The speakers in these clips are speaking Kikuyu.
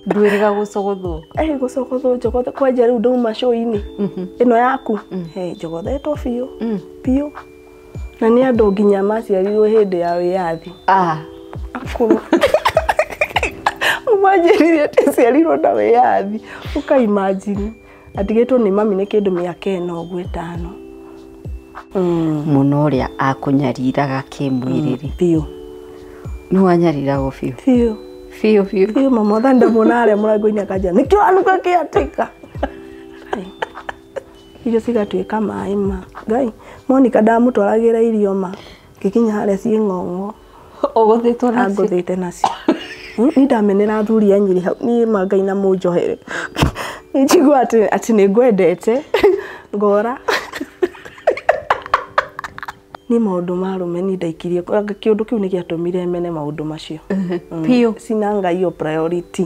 ndwĩrĩga gũcogothwo ĩ gũcokothwo njogothe kwanja rĩu ndauma show-inĩ ĩno yaku He, njogothetwo biũ biũ na nĩ andũ nginya maciarirwo hĩndĩ ya wĩyathi ah akũrũ ũmanjĩrire atĩ ciarirwo na wĩyathi ũkaimajini Atigĩtwo nĩ mami nĩ kĩndũ mĩaka ĩna ũguo ĩtano. Mm. mũno ũrĩa akũnyariraga kĩmwĩrĩrĩ Biũ. nĩ wanyariragwo biũ Biũ. biũ biũ Biũ mama otha ndamuona harĩa mũrango-inĩ akanja nĩkĩ wanuka kĩatĩka. Irio cigatuĩka maĩ ma. Ngai, Monica ndamũtwaragĩra irio ma. ngĩkinya harĩa ciĩ ng'ong'o ũgũthĩtwo nacio angũthĩte nacio Mm, ni ndamenera athuri a nyiri hau niĩ ma ngai na mũnjohere nĩ njigua atĩ atĩ nĩ ngwendete ngora nĩ maũndũ ma rũme ni ndaikirie kĩũndũ kĩu nĩ gĩatũmire mene maũndũ macio Mm, Biũ. sina ngai yo priority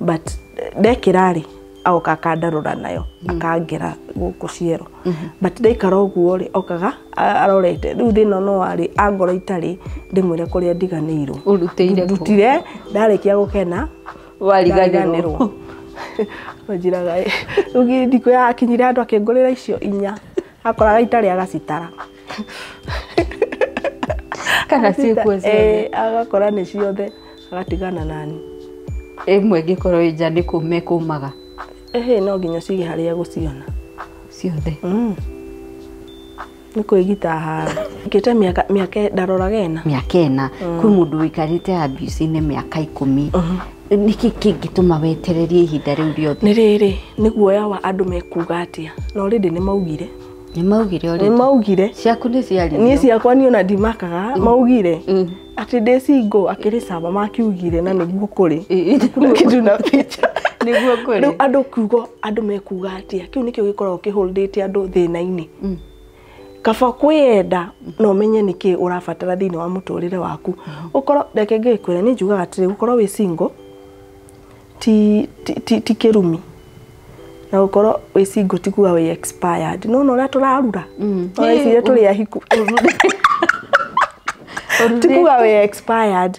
but ndekĩra rĩ aoka akandarora nayo mm. akangera gũkũ ciero mm -hmm. but ndaikara ũguo rĩ okaga arorete rĩu thĩna no warĩ angora itarĩ ndĩmwĩre kũrĩa ndiganĩirwo ndutire ndarĩkia gũkena wariganĩrwo njiraga rĩu thikũ yakinyire andũ akĩngũrĩra icio inya akoraga itarĩ agacitara kana ciĩkuo Eh, ciothe agakora nĩ ciothe agatigana nani ĩmwe ĩngĩkorwo ĩ nja nĩ kũ mekũmaga ehe no nginya cige harĩa gũciona ciothe Mm. nĩ kwĩgita hara ngĩte mĩaka mĩaka ndaroraga ena mĩaka ĩna kwĩ mũndũ wĩikarĩte abuse-inĩ mĩaka ikũmi nĩkĩ kĩngĩtũma wetererie ihinda rĩu rĩothe nĩ rĩrĩ nĩ guoya wa andũ mekuga atĩa na already nĩ maugire Nĩ maugire nĩ ũrĩ. maugire Ciaku nĩ ciarirwo. niĩ ciakwa niĩ ona ndimakaga maugire Mm. atĩ ndĩ singo akĩrĩ caba makiugire na nĩguo kũrĩ Ĩ, ĩ. kitu na picha Nĩguo kũrĩ. rĩu andũ kiugo andũ mekuga atĩa kĩu nĩkĩo gĩkoragwo kĩhũrĩte andũ thĩna-inĩ Mm. kaba kwĩyenda na ũmenye nĩkĩ ũrabatara thĩinĩ wa mũtũrĩre waku ũkorwo reke ngĩkwĩra nĩ njugaga atĩrĩ gũkorwo wĩ single ti, ti, ti, ti kĩrumi na gũkorwo wĩ single ti kuga wĩ expired no no ũrĩa tũrarura Mm. no wĩcire tũrĩ ahiku ti kuga wĩ expired